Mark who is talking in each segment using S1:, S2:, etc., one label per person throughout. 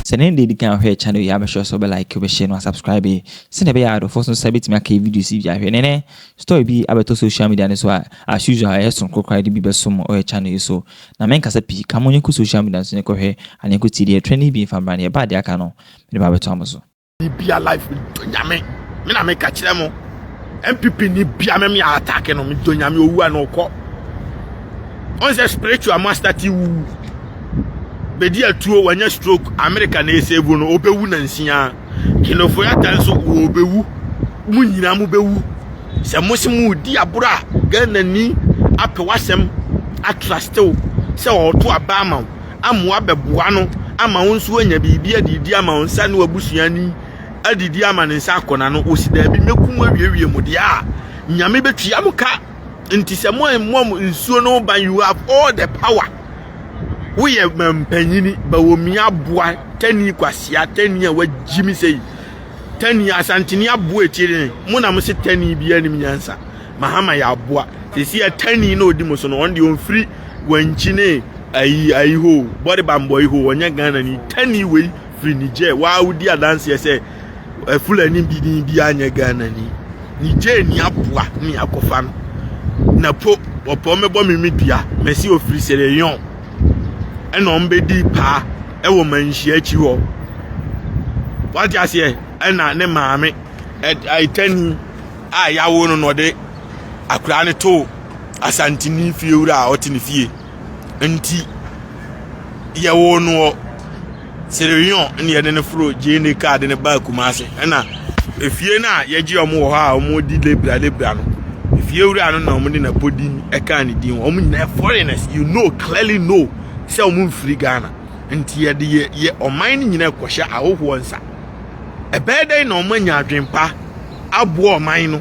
S1: Sɛ ne deɛ dikan ahwɛ channel yi a make sure sɛ wobɛ like wobɛ share no asubscribe yi sɛnea ɛbɛyɛ a adɔfoɔ so nsa bɛtumi aka videos yi bi ahwɛ ne ne story bi abɛtɔ social media no so a as usual ɛyɛ sononko koraa de bi bɛsom ɔyɛ channel yi so na menkasa pii ka mo nyɛnkɔ social media no so nyɛnkɔhwɛ aneɛnkɔ tie deɛ ɛtrɛ ne bi mfa mmra ne ɛba deɛ aka no mede ba bɛtoa mo so. bibia life
S2: medɔ nyame me na meka kyerɛ mo mpp ni bia me me atake no medɔ nyame owu a na ɔkɔ ɔn sɛ spiritual master ti wu bɛdi atuo wanya stroke america na ɛsɛvu no ɔbɛwu na nsia kenofo yata nso wɔbɛwu mu nyinaa mu bɛwu sɛ mo se mo di aboro a ghana ni apɛ wasɛm atrastew sɛ ɔto abaa ma wo amoa abɛboa no ama wo nso anya biribi adidi ama wo nsa ne w'abusua ni adidi ama ne nsa akɔ n'ano wɔsi daabi mɛku mu awiewie mu deɛ a nyame bɛtua mo ka nti sɛ mo mmɔ mo nsuo no ban you have all the power woyɛ mampanyini bawomi aboa tani kwasia tani a wagyi me sɛi tani asantene aboa ɛtie ne mo na mo se tani biara nim nyansa mahama yɛ aboa sɛsi a tani na ɔdi mo so no ɔn deɛ ɔmfiri wankyine ayi ayi ho bɔde bambɔ yi ho wɔnyɛ ghana ni tani wei firi niger waa wodi adanseɛ sɛ fulani bi ni bi anyɛ ghana ni niger ni aboa ne akɔfa no na po wɔpɔ mɛbɔ me me dua mɛsi ofiri sɛ yɛn ɛna wɔn bɛdi paa ɛwɔ manhyia akyi hɔ wate aseɛ ɛna ne maame ɛtani a yawo no na ɔde akwadaa no too Asanteni fiewura a ɔte ne fie nti yɛwoo no wɔ Serewion na yɛde no foro GNA kaa de no baa Kumase ɛna efie no a yɛgye wɔn wɔ hɔ a wɔdi lebra lebra no efiewura no na wɔde n'apɔdin ɛkaa ne din wɔn nyinaa foreigners you know clearly know sɛ wɔn mfiri Ghana nti yɛde yɛ yɛ ɔman no nyinaa kɔhyɛ ahohoɔ nsa ɛbɛyɛ dɛn na wɔn anya adwempa aboɔ ɔman no.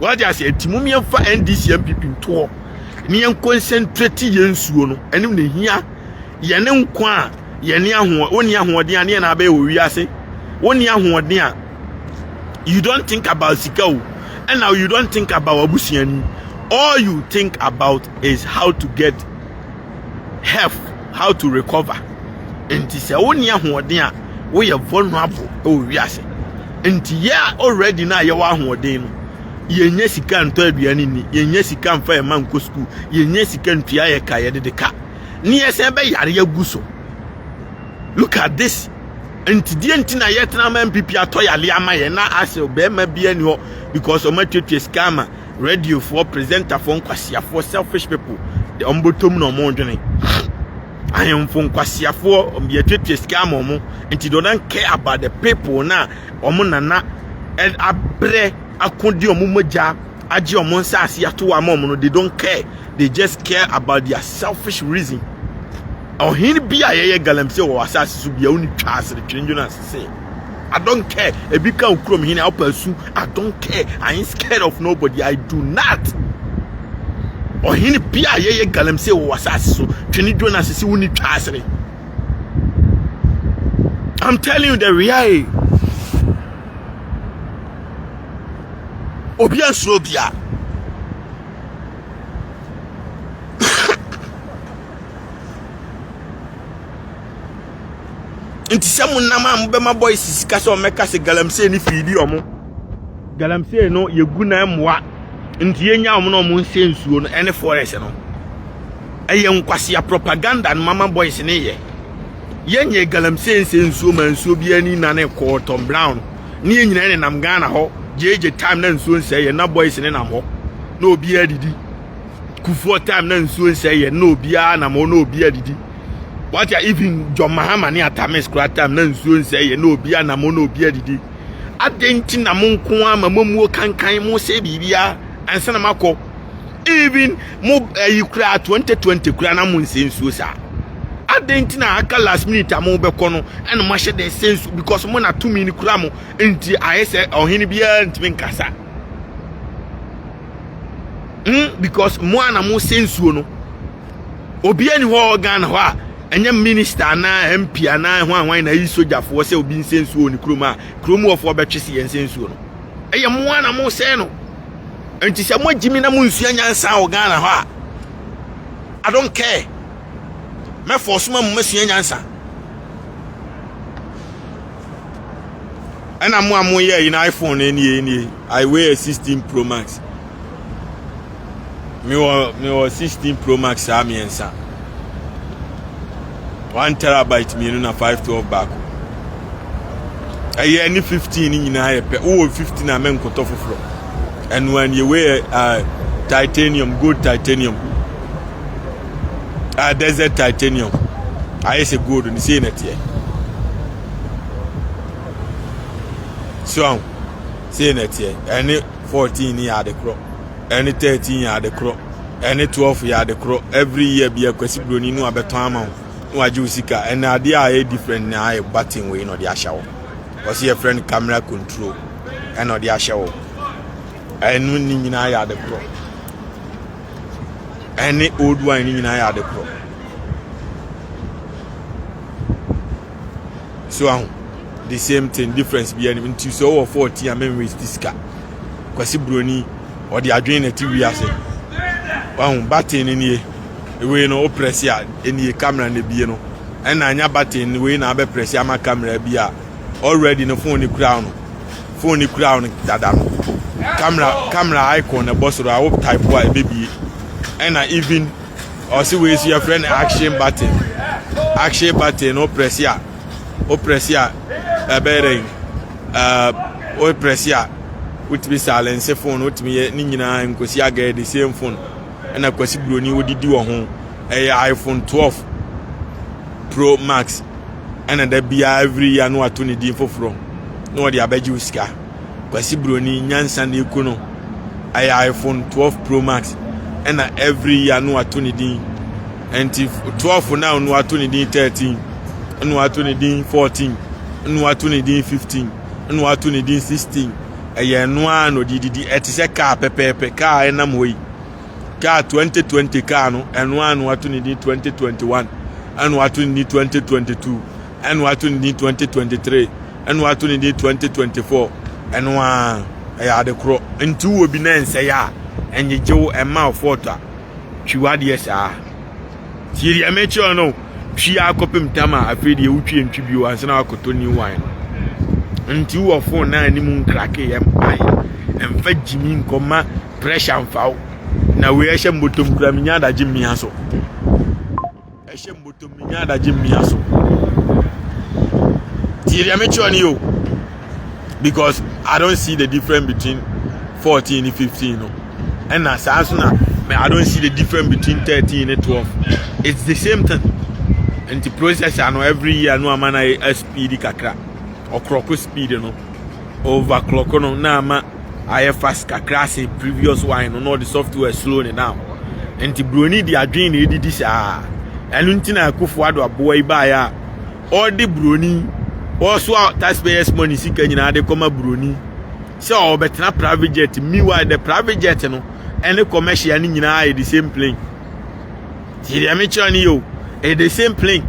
S2: wɔde ase nti mu mmiɛnfa ndc npp nto hɔ ne yɛn nkɔnsɛntrɛti yɛn nsuo no ɛne na ehia yɛn ne nko a yɛn ne ahoɔ wɔnni ahoɔden a ne yɛn na abɛyɛ wɔ wiase wɔnni ahoɔden a you don't think about sika o ɛna you don't think about abusuani all you think about is how to get health how to recover nti sɛ wonni ahoɔden a woyɛ vulnerable wɔ wiase nti yɛ a already na yɛwɔ ahoɔden no yɛnyɛ sika ntɔ aduane ni yɛnyɛ sika mfa yɛn ma nkɔ sukuu yɛnyɛ sika ntua yɛ ka yɛde de ka ne yɛsɛn bɛ yare agu so look at this nti deɛ nti na yɛtena ma mpipi atɔ yale ama yɛn na asɛ bɛrima bi ani hɔ because ɔmatwatwa sika ama radio foɔ presenter foɔ nkwasiafoɔ selfish people de wɔn bɔtɔ mu na wɔn dwene ahemfo nkwasiafoɔ wɔn de atuatua sika ama wɔn nti they don't care about the people na wɔn nana abrɛ akodi wɔn mogya agye wɔn nsaase ato ama wɔn no they don't care they just care about their selfish reason ɔhene bi a yɛyɛ galamsey wɔ asaase so bia woni twa asere twene jonas se I don't care ebi ka okurom hene a ɔpɛ su I don't care I ain't scared of nobody I do not ɔhene bi a yɛyɛ galamsey wɔ w'asase so twene dwo na sisi wonni twa asene I'm telling you the reality obi ansuro obiara nti sɛ mo nam a mobɛma boys sika sɛ ɔmɛka sɛ galamsey ne fiidi ɔmo galamsey no yɛgu na mmoa nti yɛnya ɔmo na ɔmo nsɛ nsuo no ɛne forest no ɛyɛ nkwasea propaganda no mama boys ne yɛ yɛnyɛ galamsey nsɛ nsuo ma nsuo bi ani na ne kɔɔ tom brown ne yɛ nyinaa ne nam ghana hɔ gyegye time na nsuo nsɛ yɛ na boys ne nam hɔ na obiara didi kufoɔ time na nsuo nsɛ yɛ na obiara nam hɔ na obiara didi wate a even john mahama ne atamis kora tam na nsuo nsɛ yɛ na obi anamo na obi adidi adɛn nti na mo nko ara ma momuo kankan mo sɛ biribiara ansa na makɔ even mo ayi kura 2020 kura na mo nsɛ nsuo saa adɛn nti na aka last minute a mobɛkɔ no ɛna moahyɛ dɛ sɛ nsuo because mo na tumi no kura mo nti ayɛ sɛ ɔhene biara ntumi nkasa mm because mo a na mo sɛ nsuo no Obiara ni hɔ Ghana hɔ a ɛnyɛ minista anaa MP anaa hwan hwan na ayi sogyafoɔ sɛ obi nsɛ nsuo wɔ ne kurom a kurom wɔfoɔ bɛtwe se yɛnsɛ nsuo no. Ɛyɛ mo ara na mosɛe no. Nti sɛ moagye mi na monsua nyansa wɔ Ghana hɔ a, I don't care. Mɛfɔ so ma mo masua nyansa. Ɛna mo a moyɛ yi na iPhone nie nie, I wear 16 Pro Max. mewɔ mewɔ sixteen pro max saa mmiɛnsa one terabyte mmienu na five twelve baako ɛyɛ ne fifteen ne nyinaa yɛ pɛ wowɔ fifteen a mɛnkɔtɔ foforɔ ɛno a neɛ wei yɛ uh, titanium gold titanium uh, desert titanium ayɛ sɛ gold ne sei na teɛ so sei na teɛ ɛne fourteen ne yɛ ade korɔ ɛne thirteen yɛ ade korɔ ɛne twelve yɛ ade korɔ every year bi akwasi broni no abɛtɔn ama wo na wagye wo sika ɛna adeɛ a ɛyɛ different na ayɛ button wei na ɔde ahyɛ wo wɔsi yɛ friend camera control ɛna ɔde ahyɛ wo ɛno ne nyinaa yɛ ade korɔ ɛne old wine ne nyinaa yɛ ade korɔ so ahu the same thing difference bi ɛnim nti sɛ ɔwɔ fourteen a mɛn waste sika. Kwasi Buroni, ɔde adwene na ɛte wiase. Wahu baten no nie. Wei no, woprɛse a, ɛnie kamera no bie no. Ɛna anya baten no, wei na abɛprɛse ama kamera bi a, already no fon no kura no. Fon no kura no dada no. Kamera, kamera icon na ɛbɔ soro a, wo type a, ɛbɛbie. Ɛna even, ɔse wei so yɛfrɛ no action button. Action button no, woprɛse a, woprɛsi a ɛbɛyɛ dɛ ɛɛ woprɛsi a wotumi silence phone wotumi yɛ ne nyinaa nkosi agɛɛ de same phone ɛna kwasi buroni wodidi wɔ ho ɛyɛ iphone 12 pro max ɛna da biara every year no ato ne din foforɔ na wɔde abɛgye wo sika kwasi buroni nyansa na eku no ɛyɛ iphone 12 pro max ɛna every year no ato ne din Ɛnti twelve na ɔno ato ne din thirteen ɛna wato ne din fourteen ɛna wato ne din fifteen ɛna wato ne din sixteen ɛyɛ ɛno ara na ɔde didi ɛte sɛ kaa pɛpɛɛpɛ kaa ɛnam hɔ yi kaa twenty twenty kaa no ɛno ara na wato ne din twenty twenty one ɛna wato ne din twenty twenty two ɛna wato ne din twenty twenty three ɛna wato ne din twenty twenty four ɛno ara ɛyɛ ade korɔ nti wɔ bi na nsɛyɛ a ɛnyegyew ɛma ɔfɔɔtɔ a. twi w'adeɛ saa tie deɛ mekyerɛ no twi akɔpem tam a afei deɛ wotwi ntwi bio ansa na wakɔtɔ new wine no nti wɔ fon na anim nkrake yɛ mpae mfa gyimi nkɔma pressure mfa wo na wei ɛhyɛ mbɔtɔm kura menya adagye mmea so ɛhyɛ mbotom me nya adagye mmea so tie deɛ mekyerɛ no yo because i don't see the difference between fourteen and fifteen no ɛna saa nso na i don't see the difference between thirteen and twelve it's the same thing nti processor no every year no ama na speed kakra ɔkorɔko speed no. overclock no na ama ayɛ fast kakra se previous one no na ɔde software slow ne down nti buroni de adwene na edidi saa ɛno nti na akufo ado aboa yi baeɛ a ɔde buroni ɔsoa taxpayers money sika nyinaa de kɔma buroni sɛ ɔbɛtena private jet meanwhile the private jet no ɛne commercial no nyinaa yɛ the same plane ti deɛ mekyerɛ no yɛ o ɛyɛ the same plane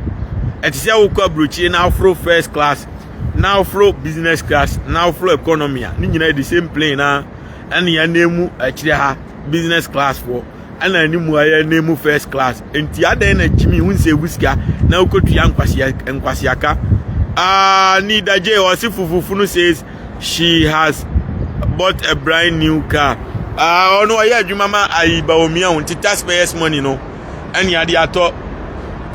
S2: ɛte sɛ wokɔ aburokyire na aforo first class na woforo business class na woforo economy a ne nyinaa the same plane na ɛne yɛn mu akyire ha business class foɔ ɛna ne mu ayɛ ne mu first class nti adɛn na jimmy ho nsɛ wusika na wokɔtua nkwaseaka uh, nida j ɔse fufufu no says she has bought a brand new car ɔno ah, ɔyɛ adwuma ma ayi baomia ho nti taxpayers money no ne ade atɔ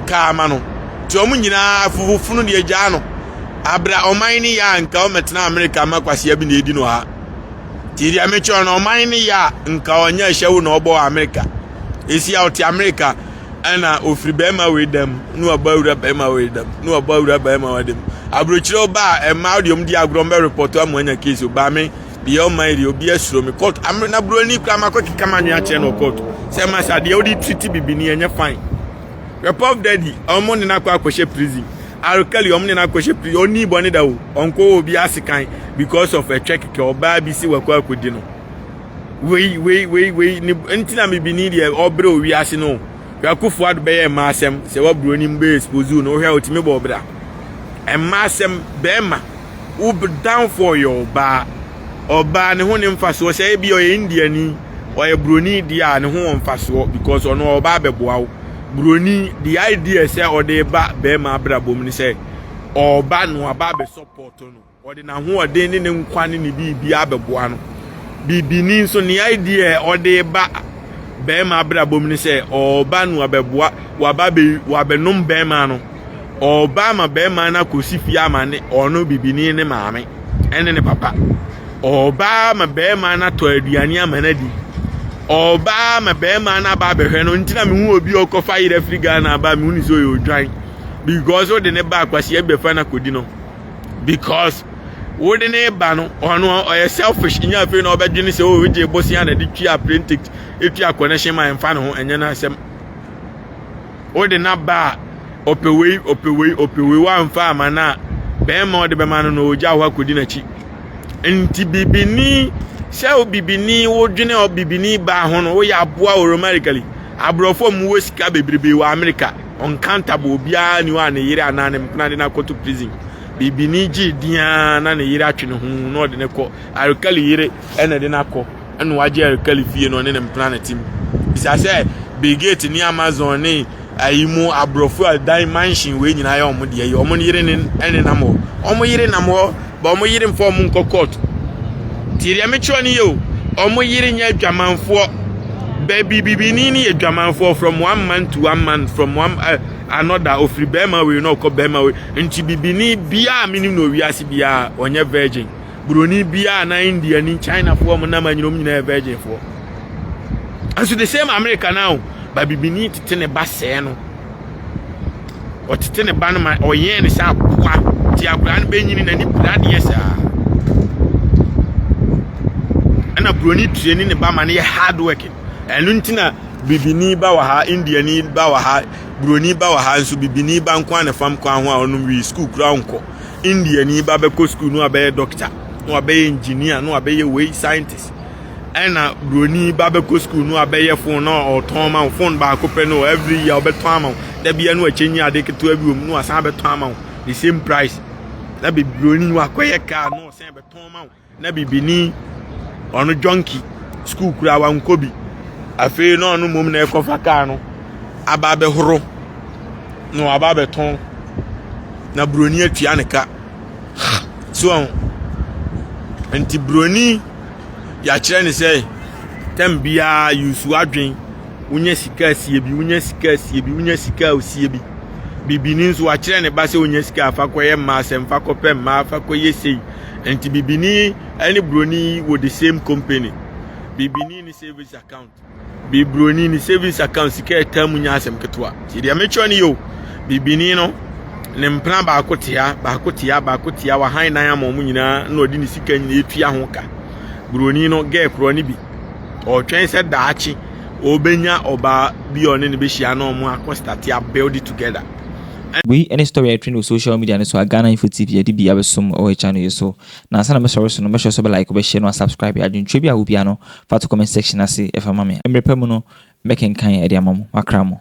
S2: kaa ama no. Nti wɔn nyinaa fofofo no de agyaa no. Abra ɔman ne yɛ a nka ɔmɛtena Amerika ama kwasea bi na edi no ha. Nti deɛ mekyerɛ no ɔman ne yɛ a nka ɔnyɛ ahyɛwo na ɔbɔ Amerika. Esi a ɔte Amerika ɛna ofiri bɛrima wei dɛm na wabɔ awura bɛrima wei dɛm na wabɔ awura bɛrima wei dɛm. Aburokyerɛ ɔbaa ɛmaa deɛ ɔmo di agorɔ mbɛ repɔtɔ ama anya keesi ɔbaa me. deɛ ɔma yi deɛ obi asuro me court amena na buroni kura ma akɔkeka ma anwea kyerɛ no wɔ court sɛ ma sa deɛ wode triti bibini ɛnyɛ fine repop daddy ɔmo ne no akɔ akɔhyɛ prison arkali ɔmo ne no akɔhyɛ prison ɔni bɔne da o ɔnkɔ wɔ obi ase kan because of ɛtwɛ kɛkɛ ɔbaa bi si wakɔ akɔdi no wei wei wei wei ne nti na bibini deɛ ɔbrɛ owi ase no yɛakofo ado bɛyɛ mmaa asɛm sɛ waburoni mu bɛyɛ expose no wohwɛ a ɔtumi bɔ ɔbra mmaa asɛm bɛrima wo danfoɔ yɛ ɔbaa ɔbaa ne ho ne mfasoɔ sɛ ebi ɔyɛ indiani ɔyɛ buroni deɛ a ne ho wɔ mfasoɔ because ɔno ɔbaa bɛboa wo buroni the idea sɛ ɔde ba bɛrima abrabɔ mu ne sɛ ɔba no aba abɛsɔpɔtɔ no ɔde n'ahoɔden ne ne nkwa ne ne biribi abɛboa no bibini nso ne idea ɔde ba bɛrima abrabɔ mu ne sɛ ɔba no abɛboa waba bɛ wabɛnom bɛrima no ɔbaa ma bɛrima no akɔsi fie ama ne ɔno bibini ne maame ɛne ne papa ɔbaa ma bɛrima no atɔ aduane ama no adi ɔbaa ma bɛrima no aba abɛhwɛ no nti na mehu obi a ɔkɔfa yerɛ firi ghana aba mehu ne sɛ ɔyɛ odwan because wode ne ba akwaseɛ bɛfa no akɔdi no because wode ne ba no ɔno ɔyɛ selfish nya afei na ɔbɛdwene sɛ o wogye bosea na de twi apprentice ɛtwi akɔnɛhyɛ ma ɛmfa ne ho ɛnyɛ no asɛm wode no aba a ɔpɛ wei ɔpɛ wei ɔpɛ wei wamfa ama no a bɛrima a ɔde bɛma no na ɔgya hɔ akɔdi n'akyi nti bibini sɛ wo bibini wodwene ɔ bibini baa ho no woyɛ aboa oromarically aborɔfo a wɔwɔ sika bebrebe wɔ amerika ɔnkantable obiara ni hɔ a ne yere anaa ne mpena de no akɔto prison bibini gye diaa na ne yere atwe ne ho na ɔde ne kɔ arikali yere ɛna de no akɔ ɛna wagye ɛrekali fie na ɔne ne mpena ne tim bisa sɛ bill gate ne amazon ne ayi mu aborɔfo a dan mansion wei nyinaa yɛ wɔn deɛ yi wɔn yere ne ɛne nam hɔ wɔn yere nam hɔ ba wɔn yere nfa wɔn nkɔ court tie deɛ mekyerɛ no yɛ o wɔn yere nyɛ adwamanfoɔ baabi bibini ne yɛ adwamanfoɔ from one man to one man from one uh, another ofiri bɛrima wei na ɔkɔ bɛrima wei nti bibini biara menim na owiase biara ɔnyɛ virgin buroni biara anaa indiani chinafoɔ ɔmo nam anyina ɔmo nyinaa yɛ virginfoɔ ɛso the same america now o babibini tete ne ba sɛɛ no ɔtete ne ba no ma ɔyɛn ne sɛ aboa ti akwadaa no bɛnyini n'ani piradeɛ saa ɛna buroni tuani ne ba ma no yɛ hard working ɛno nti na bibini ba wɔ ha indiani ba wɔ ha buroni ba wɔ ha nso bibini ba nko a na fam kwan ho a ɔnom wi sukuu kura nkɔ indiani ba bɛkɔ sukuu na wabɛyɛ dɔkta na wabɛyɛ engineer na wabɛyɛ wei scientist ɛna buroni ba bɛkɔ sukuu na wabɛyɛ phone na ɔtɔn ma wo phone baako pɛ no every year ɔbɛtɔn ama wo dabia no akyɛnyi ade ketewa bi wɔ mu na wasan abɛtɔn ama wo the same price na buroni wakɔyɛ car na ɔsan bɛtɔn ma wo na bibini ɔno jɔnki sukuu koraa wankɔ bi afei na ɔno mmom na ɛkɔfa kaa no aba abɛhoro na waba abɛtɔn na buroni atua ne ka so ɔn nti buroni yɛakyerɛ ne sɛ tɛm biara yusu adwen wonya sika asie bi wonya sika asie bi wonya sika asie bi bibini nso wakyerɛ ne ba sɛ wonya sika afa kɔyɛ mmaa sɛ mfa kɔpɛ mmaa afa kɔyɛ sei Nti bibini ne broni wɔ the same company. Bibini ne savings account. Bibroni ne savings account sika ɛtaa mu nya asɛm ketewa. Ti deɛ mekyerɛ ne yo. Bibini no ne mpena baako tea baako tea baako tea wahan nan ama wɔn nyinaa na ɔde ne sika nyinaa etua ho ka. Broni no gɛɛ korɔ ne bi. Ɔtwɛn sɛ daakye ɔbɛnya ɔbaa bi a ɔne no bɛhyia na wɔn akɔ start a build together. Wei ne
S1: story a ɛtrend wɔ social media no so a Ghana info TV yɛde bi abɛsom wɔ yɛ channel yi so. Na ansa na mɛsɔre so no mɛsrɛ sɛ wobɛ like, wobɛ share na wasubscribe. Adwenkyerɛ bi a wɔ biara no fa to comment section ase fa ma me. Mmerɛ pa mu no mɛkenkan de ama mo. Makra mo.